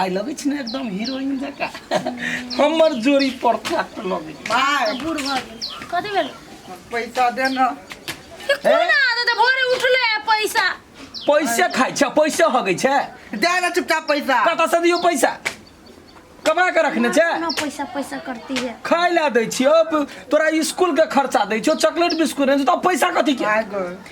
आइ लगै छै ने एकदम हीरोइन जकाँ हमर जोड़ी परफेक्ट लगै छै। भाय बूढ़ भऽ गेल कथी भेल पैसा दे न कोन आदत है भोरे उठले है पैसा पैसे खाइ छै पैसे हगै छै दे न चुपचाप पैसा कतऽ से दियौ पैसा कमा के रखने छै ना पैसा पैसा करती है खाय ला दै छियो तोरा स्कूल के खर्चा दै छियो चॉकलेट बिस्कुट दै छियो तऽ पैसा कथी के भाय गो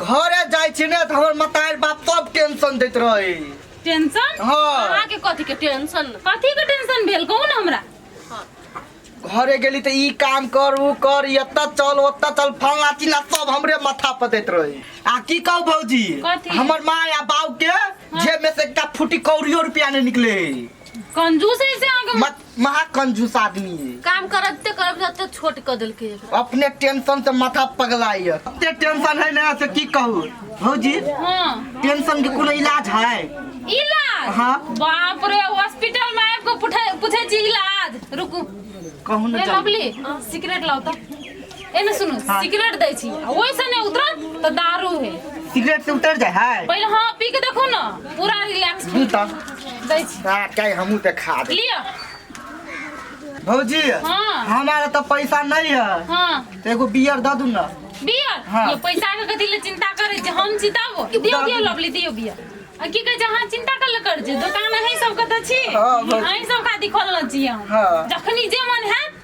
घरे जाइ छी ने तऽ हमर मतार बाप सब टेंशन दैत रहै टेंशन हाँ। अहाँ के कथी के टेंशन कथी के टेंशन भेल कहू ना हमरा घरे गेली तऽ ई काम कर ऊ कर ई एतऽ चल ओतऽ चल फल्ला चिल्ला सब हमरे माथा पर दैत रहै आ की कहू भौजी कथी? हमर माँ आ बाप के जेब में से एकटा फुटी कौड़ियो रुपया नहीं निकले कंजूस है से अहाँ के मत महा कंजूस आदमी है काम करते करब जते छोट क देलके एकरा। अपने टेंशन से माथा पगलाय ये एते टेंशन है ना से की कहू भौजी हाँ टेंशन के कोनो इलाज है इलाज हाँ। बाप रे हॉस्पिटल में आबि के पूछे पूछे छी इलाज रुकू कहू ए ना जल्दी। बबली सिगरेट लाओ तो एने सुनू हाँ। सिगरेट दै छी आ ओइसे नहि उतरत तऽ दारू है सिगरेट से उतर जाए है पहिले हाँ पी के देखो ना पूरा रिलैक्स दू तो दै छी आ कहीं हमू तो खा दे लिअ भौजी हाँ। हमारा तो पैसा नहीं है हाँ तो एगो बियर दे दू ना बियर हाँ। ये पैसा के कथी ले चिंता करे जे हम चिताबो दियो दियो लवली दियो बियर आ की कहे छै अहाँ चिंता कर ले कर जे दोकान अहीं सबके तऽ छी हाँ, बस। अहीं सब खातिर खोलने छी हम हाँ। जखनी जे मन हैत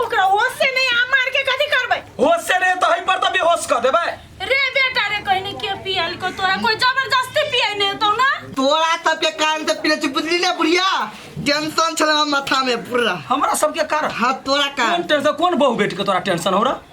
ओकरा होश से नहीं आ मार के कथी करबै होश से रे तो हई पर तो बेहोश कर देबे रे बेटा रे कहीं नहीं के पियल को तोरा कोई जबरदस्ती पियाई नहीं तो ना तोरा सबके कारण से पीले बुझली ना बुढ़िया टेंशन छल हम माथा में पूरा हमरा सबके कारण हाँ तोरा कोन कारण टेंशन कोन बहु बेटी के तोरा टेंशन हो रहा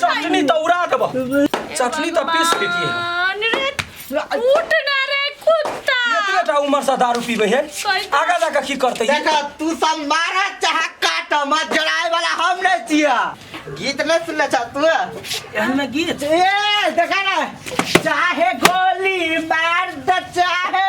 चटनी त उड़ा देबो चटनी त पीस के दिए उठ ना रे कुत्ता इतने टा उम्र से दारू पीबे है आगा जाके की करते है देखा तू सब मारा चाहे काट मत जलाए वाला हम नहीं छिया गीत नहीं सुनना चाह तू एहना गीत ए देखा ना चाहे गोली मार द चाहे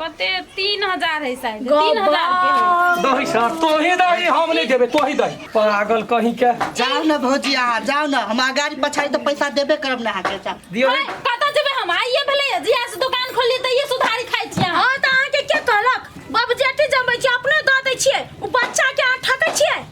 कते तीन हजार है शायद तीन हजार के है। दही सर तोही दही हम नहीं देबे तोही दही पागल कहीं के जाओ न भौजी अहाँ जाओ न हम अगाडि पछाडि त पैसा देबे करब न अहाँके जाओ दियो है, कतऽ जेबै हम आइए भेलै जिया से दुकान खोलली तऽ ये सुधारी खाइ छियै अहाँ। हाँ तऽ अहाँके के कहलक बाबू जेटी जमबै छियै अपने दऽ दै छियै ओ बच्चाके अहाँ ठकै छियै